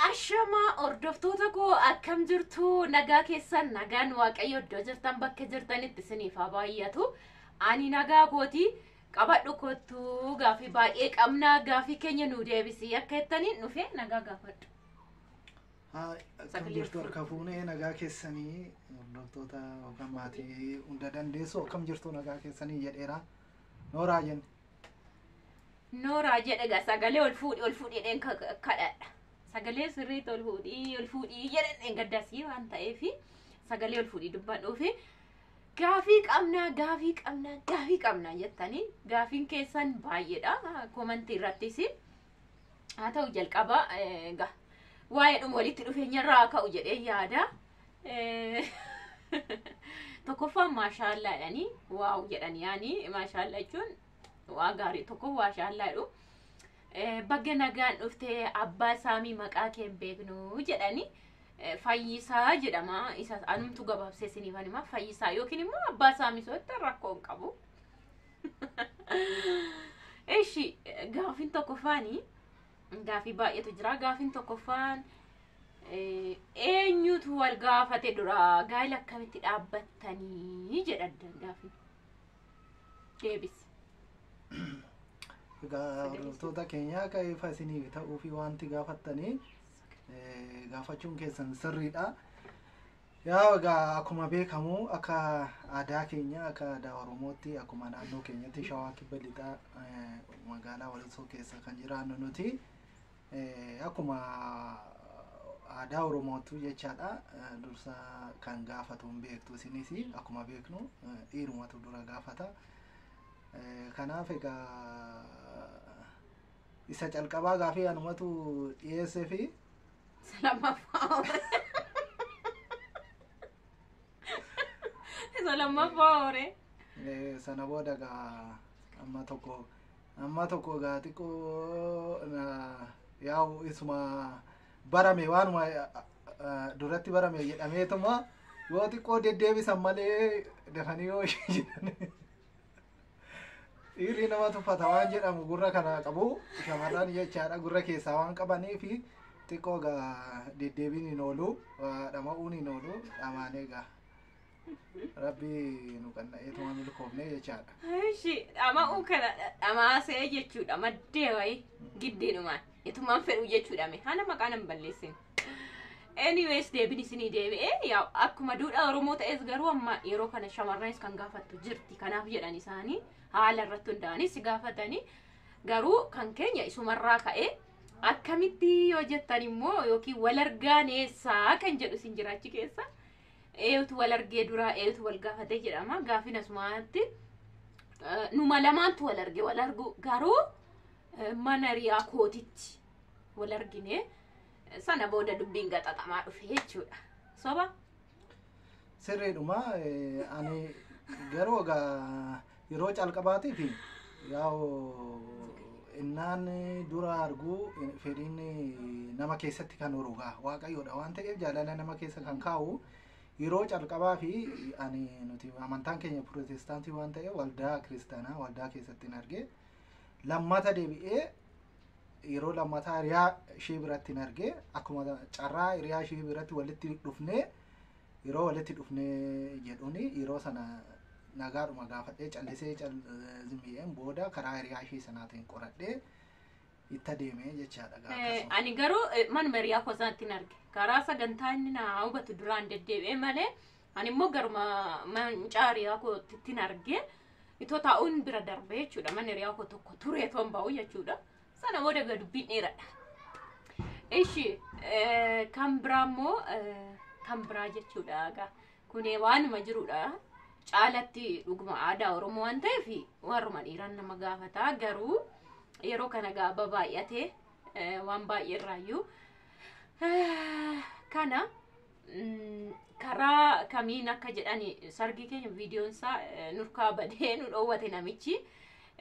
Ashama hordoftoota koo akkam jirtu nagaa keessan nagaan waaqayyo iddoo jirtan bakka jirtanitti isiniif haa baay'atu. Ani nagaa kooti qabadhu kottu gaafii baay'ee qabna gaafii keenya nu deebisi akka jettaniin dhufe nagaa gaafadhu. Haa, Akkam Sagalee jirtu fuudhu. harka fuunee nagaa keessanii hordoftoota yookaan maatii hunda dandeessu akkam jirtu nagaa keessanii jedheera. Nooraa jenna. Nooraa jedhe gaa sagalee ol fuudhi ol fuudhi jedheen ka- ka- kadhadha. Sagalee sirriitti ol fuudhi ol fuudhi jedheen dheengaddasii waan ta'eef sagalee ol fuudhi dubbadhuufi gaafii qabnaa gaafii qabnaa gaafii qabnaa jettanii gaafiin keessan baay'eedha komantii irrattis haa ta'u jalqaba egaa waa'eedhuma walitti dhufeenyarraa haa ka'u jedhee yaada. Eh, Tokkoffaan maashaallaa jedhanii waaw jedhan yaani maashaallaa jechuun waa gaarii tokko maashaallaa jedhu. Eh, Bagga nagaan dhuftee abbaa saamii maqaa kee hin beeknu jedhanii eh, fayyisaa jedhama isa anumtu gabaabsee isiniif anima fayyisaa yookiin immoo abbaa saamii sotta rakkoo hin qabu. Eshi gaafin tokkoffaani gaafii baay'eetu jira. Gaafin tokkoffaan eh, eenyutu wal gaafate dura gaa'ila akkamitti dhaabbattanii jedha addaan gaafin. Deebis. Egaa hordoftoota keenya akka ifa isiniif ta'uu fi wanti gaafattanii eh, gaafachuun keessan sirriidha. Yaa egaa akkuma beekamu akka aadaa keenya akka aadaa Oromootti akkuma naannoo keenyatti shawaa kibba lixaa eh, magaalaa Walisoo keessa kan jiraannu nuti eh, akkuma aadaa Oromootu jechaadha eh, dursa kan gaafatu hin beektu isinis akkuma beeknu eh, dhiirumatu dura gaafata. Eh, Kanaaf egaa isa calqabaa gaafii anumatu dhiyeessee fi Salamaffaa hore. Salamaffaa hore. Eh, sana booda gaa amma tokko amma tokko gaa xiqqoo na yaa'u isuma barame waanuma eh, eh, duratti barame jedhameetuma yoo xiqqoo deddeebisan malee dafanii yoo jedhan Dhiirri nama tuffata waan jedhamu gurra kana qabu shamarran jechaadha gurra keessaa waan qabanii fi xiqqoo gaa deddeebiin hin oolu waa dhama'uun hin oolu dhamaanee gaa rabbi nu qanna'ee tuma milkoofne jechaadha. Ishi dhama'uu kana dhamaasee jechuudha maddee wayii giddiidhumaan itumaan fedhuu jechuudha mee haala maqaa nan balleessin. Anyways deebiin isinii deebi'ee yaa akkuma duudhaa Oromoo ta'es garuu amma yeroo kana shamarranis kan gaafattu jirti kanaaf jedhan isaanii haala irratti hundaa'anii si gaafatanii garuu kan keenya isumarraa ka'ee akkamitti yoo jettan immoo yookiin wal argaan eessaa kan jedhu isin jiraachi keessa eeyutu wal argee duraa eeyutu wal gaafatee jedhama gaafin asumaatti eh, numa lamaantu wal arge wal argu garuu eh, mana riyaa kootitti wal argine sana booda dubbiin gaxaxamaa dhufe jechuudha soba Sirriidhuma eh, ani garuu egaa yeroo calqabaatii fi yaa'u innaan dura arguu eh, fedhiin eh, nama keessatti kan urugaa waaqayyoodha waan ta'eef jaalala nama keessa kan kaa'u yeroo calqabaa fi ani nuti amantaan keenya pirootestaantii waan ta'eef waldaa kiristaanaa waldaa keessatti hin arge lammata deebi'ee yeroo lammataa hiriyaa ishee biratti hin arge akkuma carraa hiriyaa ishee biratti walitti dhufnee yeroo walitti dhufnee jedhuun yeroo sana nagaadhuma gaafadhee callisee zimmi'een booda karaa hiriyaa ishee sanaatiin qoradhee itti adeemee jechaadha gaafa Eh, sana. ani garuu eh, manuma hiriyaa koo sanatti hin arge karaa sagantaa inni na hubatu duraan deddeebi'ee malee Ani immoo garuma mancaa hiriyaa koottiin argee itoo taa'uun bira darbee jechuudha. Mana hiriyaa koo tokko turee toon ba'u jechuudha. Sana booda egaa dubbiin dheeradha. Ishi kan biraa immoo kan biraa jechuudha egaa kun waanuma jirudha. Caalatti dhuguma aadaa Oromoo waan ta'eef warruma dhiiraan nama gaafata garuu yeroo kana egaa babaay'atee waan baay'ee irraayyuu kana Mm, karaa kamiin akka jedhani sargii keenya viidiyoon isaa eh, nurkaa badee nu dhoowwate namichi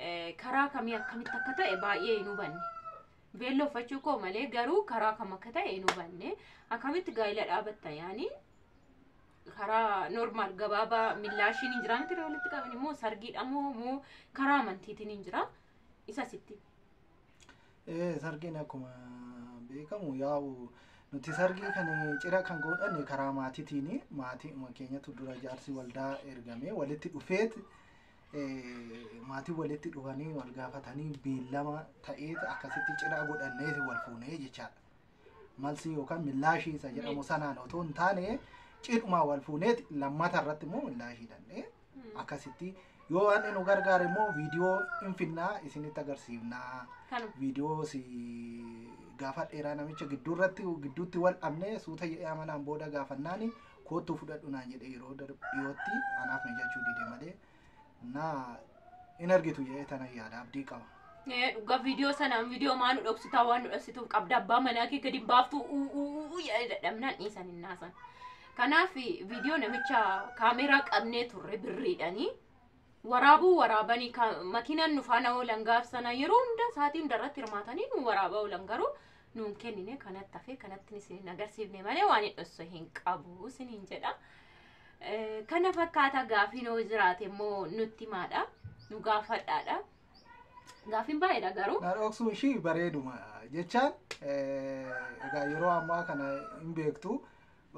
Eh, karaa kamii akkamitti akka ta'e baay'ee hin hubanne beelloo uffachuu koo malee garuu karaa kam akka ta'e hin hubanne akkamitti gaa'ila dhaabatta yaani karaa normaal gabaabaa millaashiin hin jiraa miti walitti qaban immoo sargiidha moo moo karaa amantiitiin hin jira isa sitti Ee, sargiin akkuma beekamu yaa'u nuti sargii kan cira kan godhanne karaa maatiitiin maatii keenyatu dura jaarsi waldaa ergamee walitti dhufeet ee, maatii walitti dhufanii wal gaafatanii beellama ta'eet akkasitti cira godhanneeti wal fuunee jechaadha. malsii yookaan millaashii isa jedhamu sanaan otoo hin taane cidhumaa wal fuuneeti lammata irratti immoo millaashii dhandhee akkasitti yoo waan nu gargaare immoo viidiyoo hin finnaa isinitti agarsiifnaa Kanuma. viidiyoo si gaafa dheeraa namicha gidduu irratti gidduutti wal dhabnee suuta jedhee amanaan booda gaafannaani koottuu fudhadhu naan jedhee yeroo dar- dhiyootti anaaf mijachuu dide malee naa in argitu jedhee tana yaada abdii qaba. Eh, dhugaa viidiyoo sana viidiyoo maa nu dhoksitaa waan nu dhoksituuf qabda abbaa manaa kee gadi hin baaftu uu uu uu jedhee dadhabnaan dhiisan hin naasan. Kanaaf viidiyoo namicha kaameeraa qabnee turre birriidhanii waraabuu waraabanii ka- makiinaan nu faana oolan gaaf sana yeroo hunda sa'aatii hunda irratti hirmaatanii nu waraabaa oolan garuu nuun kennine kanatti hafe kanatti isin hin agarsiifne malee waan hin dhosse hin qabu isin hin jedha. Eh, Kana fakkaata gaafiin yoo jiraate immoo nutti maadha nu gaafadhaadha. Gaafiin baay'eedha garuu. Na dhoksuun ishii bareeduma jechaan eh, egaa yeroo ammaa kana hin beektu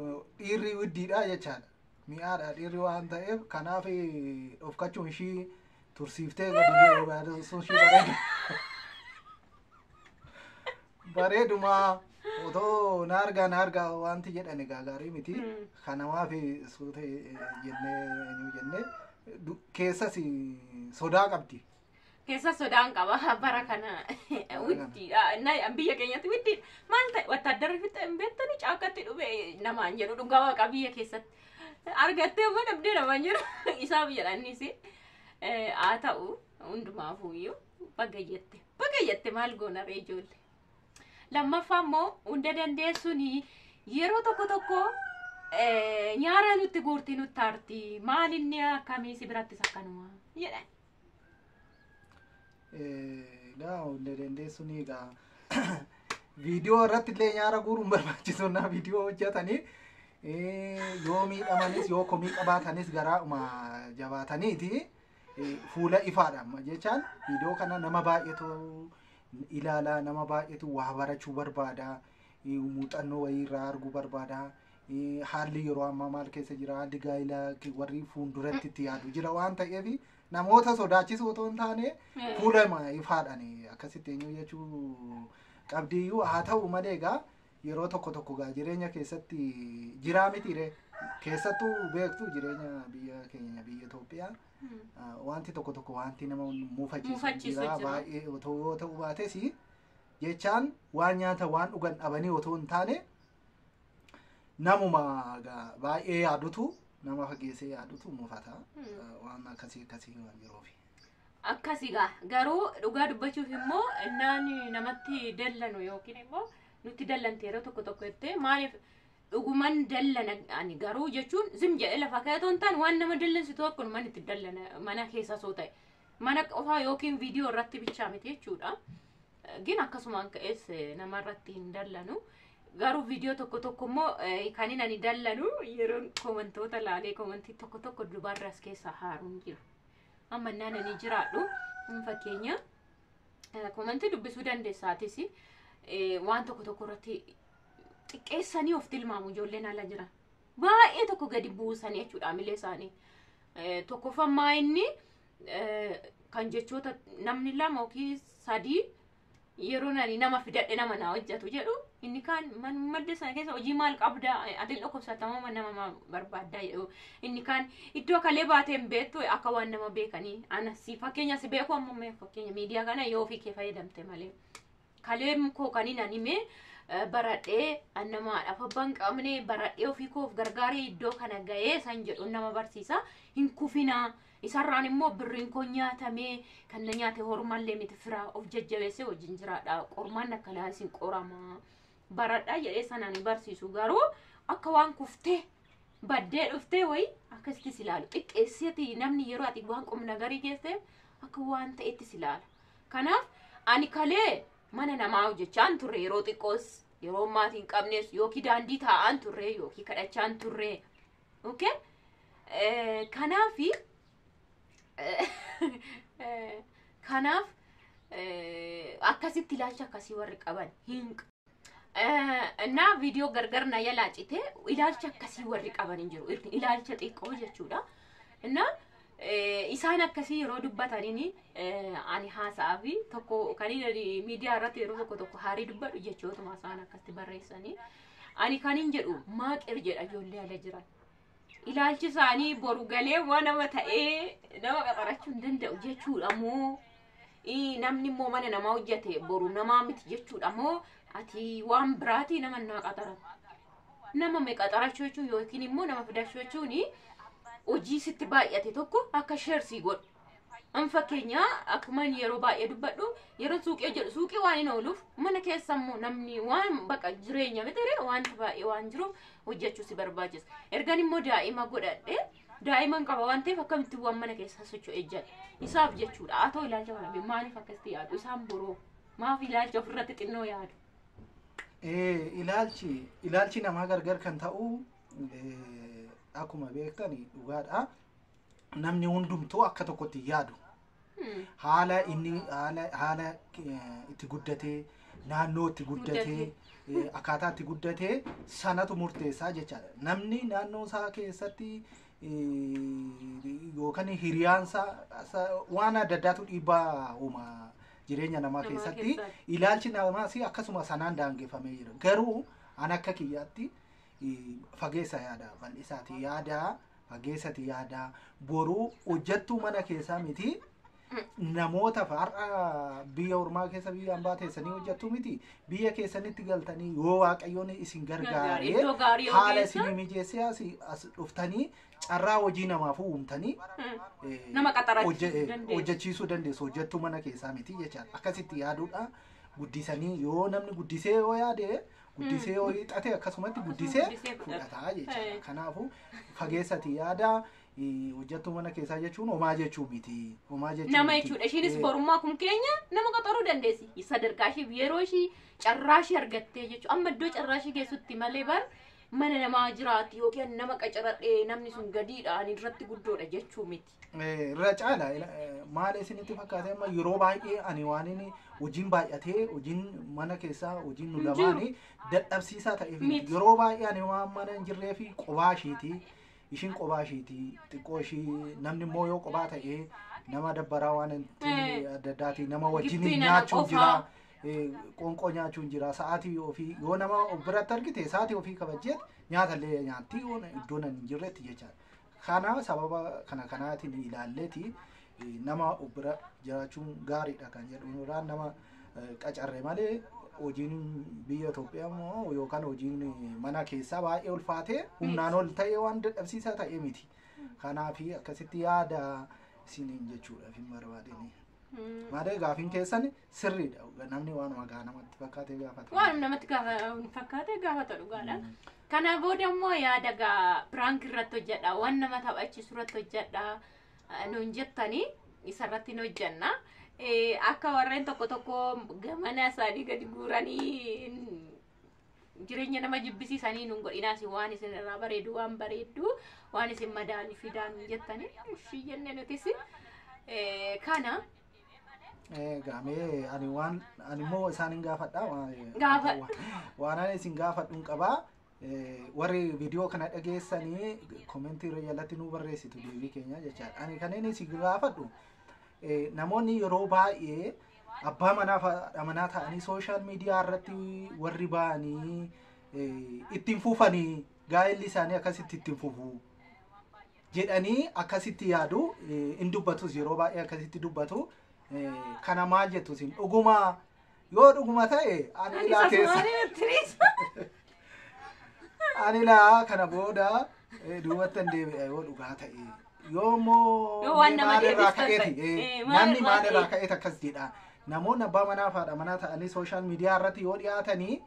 eh, dhiirri widdiidha jechaadha. mi'aadha dhiirri waan ta'eef kanaaf dhofkachuun ishii tursiiftee gadi baasuun ishii bareedu. Bareeduma otoo na argaa na argaa wanti jedhan egaa gaarii miti. Mm. Kanaaf suuta jennee eenyu jennee du- keessas sodaa qabdi. keessa sodaan qaba bara kana wittiidha Na- biyya keenyatti wittiidha maal ta'e wattaaddarri fixee hin beektani caakkatti dhufe namaan jedhu dhugaa waaqa biyya keessatti argattee amma dhabdee namaan jedhu isaa biyyadhaannis haa ta'u hundumaafuu iyyuu bagayyatte bagayyatte maal goona ree ijoollee lammaffaa immoo hunda dandeessuun yeroo tokko tokko eh, nyaara nutti guurti nutti aarti maal inni akkamii si birattis akkanuma jedhan Egaa hunda dandeessu ni egaa. Viidiyoo irratti illee nyaara guuruun barbaachisu naa viidiyoo hojjetanii yoo miidhamanis yoo komii qabaatanis garaadhuma jabaataniiti fuula ifaadhaan jechaan viidiyoo kana nama baay'eetu ilaala nama baay'eetu waa barachuu barbaada muuxannoo wayii irraa arguu barbaada. Haalli yeroo ammaa maal keessa jira? Haalli gaa'ila warri fuulduratti itti yaadu jira waan ta'eef namoota sodaachisuu otoo hin taane fuula ifaadhaan akkasitti eenyu jechuu qabdiyyuu haa ta'u malee egaa yeroo tokko tokko gaa jireenya keessatti jiraa mitiire keessattuu beektu jireenya biyya keenya biyya Itoophiyaa wanti tokko tokko wanti nama muufachiisu jira baay'ee otoo yoo ta'u baates jechaan waan nyaata waan dhugan dhabanii otoo hin taane namuma gaa- baay'ee yaadutu nama fageessee yaadutu mufata Eh, waan akkasii akkasii waan jiruufi. akkasi gaa garuu dhugaa dubbachuuf immoo innaan namatti dallanu yookiin immoo nutti dallante yeroo tokko tokko jettee maaliif dhuguman dallana ani garuu jechuun zim jedhee lafa keetoo hin taane waan nama dallansitu akkuma mana itti dallana mana keessa soo ta'e mana qofaa yookiin viidiyoo irratti bichaa miti jechuudha gin akkasumaan ka'es nama irratti hin dallanu garuu viidiyoo tokko tokko immoo kanin ani dallanu yeroon komantoota laalee komantii tokko tokko dubarra as keessaa haaruun jira amma naan ani jiraadhu fakkeenya komantii dubbisuu dandeessaatis waan tokko tokko irratti xiqqeessanii of tilmaamu ijoolleen ala jira baay'ee tokko gadi buusanii jechuudha milee isaanii tokkoffammaa inni eh, kan jechoota namni lama yookiin sadii yeroo nani nama fidadhe nama na hojjetu jedhu inni kaan man madda sana keessa hojii maal qabda ati hin dhukkubsatamoo man nama ma- barbaaddaa jedhu inni kaan iddoo kalee baatee hin beektu akka waan nama beekanii ana si fakkeenya si beeku ammoo mee fakkeenya miidiyaa kana yoo ofii kee fayyadamte malee Kaleem koo kanin ani mee baradhee an nama haadhaaf abbaa hin qabne baradhee ofii koof gargaaree iddoo kana ga'ee san jedhuun nama barsiisa hin kufinaa isarraan immoo birriin koo nyaatamee kan na nyaate hormallee miti firaa of jajjabeessee wajjin jiraadha qormaan akkanaa isin qoramaa baradhaa jedhee sanaan hin barsiisu garuu akka waan kuftee baddee dhuftee wayi akkasitti si ilaalu xiqqeessiti namni yeroo ati waan qumnagarii geesseef akka waan ta'etti si ilaala Kanaaf ani kalee mana namaa hojjechaan turre yeroo xiqqoos yeroo maatii hin qabnes yookiin daandii taa'aan turre yookiin kadhachaan turre. Okay? Eh, Kanaafi eh, kanaaf eh, akkasitti ilaalcha akkasii warri qaban hin እና viidiyoo gargar na jalaa cite ilaalcha akkasii warri qaban hin jiru Ir- ilaalcha xiqqoo jechuudha እና isaan akkasii yeroo dubbataniin ani haasa'a fi tokko kan miidiyaa irratti yeroo tokko tokko haarii dubbadhu jechootuma isaan akkatti barreessanii ani kan hin jedhu maaqir jedha ijoollee ala jiran ilaalchi isaanii boru galee immoo nama ta'ee nama qaxarachuu hin danda'u jechuudha moo ii, namni immoo mana namaa hojjate boru namaa miti jechuudha moo ati waan biraatii nama naa qaxara nama mee qaxarachuu jechuun yookiin immoo nama fidachuu jechuun hojii sitti baay'ate tokko akka sheersii godhu An fakkeenya akkuma inni yeroo baay'ee dubbadhu yeroo suuqii hojjedhu suuqii waan hin ooluuf mana keessa immoo namni waan baqa jireenya mitiree wanti baay'ee waan jiruuf hojjechuu si barbaachisa. Ergan immoo daa'ima godhadhe daa'iman qaba waan ta'eef akkamitti waan mana keessa socho'e jedhe isaaf jechuudha. Haa ta'u ilaalcha kana bee maaliif akkasitti yaadu isaan boroo maaf ilaalcha ofirratti xinnoo yaadu. Eh, ilaalchi ilaalchi namaa gargar kan ta'u eh, akkuma beektani dhugaadha. namni hundumtuu akka tokkotti hin yaadu. Haala inni haala haala eh, itti guddatee naannoo itti guddatee eh, akkaataa itti guddatee sanatu murteessaa jechaadha. Namni naannoo isaa keessatti eh, yookaan hiriyaan isaa isaa- waan adda addaatu dhiibbaa uuma jireenya namaa Namaa keessatti keessatti. ilaalchi namaas akkasuma sanaan daangeffamee jira. Garuu an akka kiyyaatti fageessa yaada bal'isaati yaada fageessati yaada boruu hojjattuu mana keessaa miti namoota har'a biyya ormaa keessa biyya ambaa teessanii hojjattuu miti biyya keessanitti galtanii yoo waaqayyoon isin gargaaree Iddoo gaarii haala ogeessa. isin mijeessee as, as dhuftanii carraa hojii namaaf uumtanii eh, Nama qaxarachiisuu hojje- eh, dandeessu. hojjechiisuu dandeessu hojjattuu mana keessaa miti jechaadha akkasitti yaaduudha guddisanii yoo namni guddisee yoo yaade guddisee yoo hiixate akkasumatti guddisee guddisee fudhata. fudhataa jechuudha. Eh. Kanaafuu fageessati yaada eh, hojjettuu mana keessaa jechuun homaa jechuu miti. Homaa jechuu nama miti. jechuudha ishiinis Eh, borummaa kun keenya nama qaxaruu dandeessi sadarkaa ishiif yeroo ishii carraa ishii argattee jechuudha amma iddoo carraa ishii geessutti malee bar mana namaa jiraatti yookiin nama qacaradhee namni sun gadiidha ani irratti guddoodha jechuu miti Eh, irra caala ila- eh, maal isinitti fakkaate amma yeroo baay'ee ani waan inni hojiin baay'atee hojiin mana keessaa hojiin nu Hin jiru. lamaanii dadhabsiisaa ta'eef Miti. yeroo baay'ee ani waan mana hin jirree fi qobaa ishiiti ishiin qobaa ishiiti xiqqoo ishii namni immoo yoo qobaa ta'ee nama dabbaraa waan hin Eh. taane adda addaati nama wajjin Gibbii nana nyaachuun jira qofaa. eh, qoonqoo nyaachuun jira sa'aatii ofii yoo nama of biratti argite sa'aatii ofii kabajjeet nyaata illee nyaatti iddoon hin jirretti jechaadha Kana sababa kana kanaatiin ilaalleeti nama bira jiraachuun gaariidha kan jedhu irraa nama qacarre malee hojiin biyya Itoophiyaa immoo yookaan hojiin mana keessaa baay'ee ulfaatee humnaan ol ta'ee waan dadhabsiisaa ta'e miti. Kanaaf akkasitti yaada isiniin jechuudhaaf hin barbaadini. Malee gaafiin keessan Sirriidha dhugaa namni waanuma gaa namatti fakkaatee gaafata. Waan namatti gaafa fakkaate gaafata dhugaadha. Kana booda immoo yaada gaa piraank irratti hojjedha. Waan nama taphachiisu irratti hojjedha. eh, Nuun jettanii isarratti hin hojjenna. Eh, Akka warreen tokko tokko gamana isaanii gadi guuranii jireenya nama jibbisiisanii nuun godhinaas waan isin irraa bareedu waan bareeddu waan isin madaalii fidaa nuun jettanii ishii jenne nutis eh, kana Egaa mee ani waan ani immoo isaan hin gaafadha. waan- Gaafadhu. Waan ani isin gaafadhu hin qabaa. Eh, Warri viidiyoo kana dhageessanii komentii irra jalatti nuu barreessitu deebii keenya jechaadha. Ani kan inni isin gaafadhu eh, namoonni yeroo baay'ee abbaa manaa fi haadha manaa ta'anii sooshaal miidiyaa irratti warri ba'anii eh, ittiin fufanii gaa'elli isaanii akkasitti ittiin fufuu. jedhanii akkasitti yaadu in dubbatus yeroo baay'ee akkasitti dubbatu kana maal jettu isin dhuguma yoo dhuguma ta'e ani ilaa keessa ani ilaa kana booda duubatti hin deebi'a yoo dhugaa ta'e yoo immoo Yoo waan nama maalirraa deebistan ka'eeti ta'e. eh, Eh, maal namni irraa maalirraa ka'e? ka'eet akkas jedha namoonni abbaa manaa fi haadha manaa ta'anii sooshaal miidiyaa irratti yoo dhiyaatanii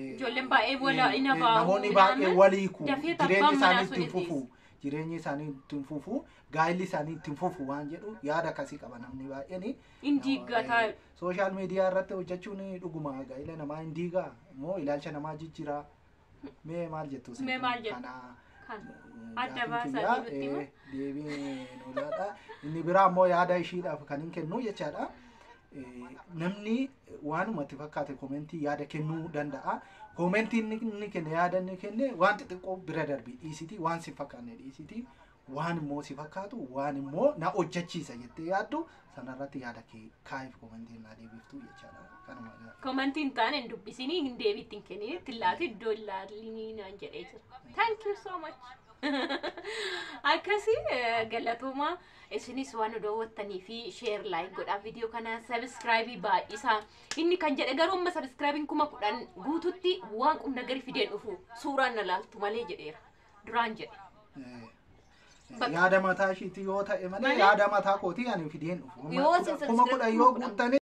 Ijoolleen baay'ee wala Eh, ina eh, baa'u. namoonni baay'ee ilaaman wal hiiku dafee jireenya tabbaan isaanii manaa ittiin sun fufu jireenya isaanii ittiin fufu gaa'illi isaanii ittiin fufu waan jedhu yaada akkasii qaba namni baay'een Hin diiggataa. sooshaal miidiyaa irratti hojjechuun dhuguma gaa'ila namaa hin diigaa moo ilaalcha namaa jijjiira mee maal jettu isin Mee maal jettu? kanaa Kan adda gaafiin baasaa kiyyaa, jirutti eh, immoo. deebii nu laadha inni biraa immoo yaada ishiidhaaf kan hin kennu jechaadha Namni waanuma itti fakkaate koomentii yaada kennuu danda'a. Koomentii inni inni kenne yaada inni kenne waan xixiqqoo bira darbii dhiisitii waan si fakkaanne dhiisitii waan immoo si fakkaatu waan immoo na hojjechiisa jettee yaaddu sanarratti yaada kee kaa'iif koomentiin naa deebiftuu jechaadha. Kanuma gaafadha. Komantii hin taane hin dubbisinii hin deebiitti hin kenninii itti laatu iddoo hin laalinii naan jedhee jira. Thank you so much. Akkasii eh, galatoomaa. isinis waan nu daawwattanii fi sheer laayik godhaa viidiyoo kana sabiskiraayibii baay'isaa inni kan jedhe garuu amma sabiskiraayibiin kuma kudhan guututti waan qum nagari fideen dhufu suuraan na laaltu malee jedheera duraan jedhe Bakka- yaada mataa ishiitii yoo ta'e malee Malee- yaada mataa kootii ani fideen dhufu Yoo isin kuma kudhan yoo subscribe- guuttanii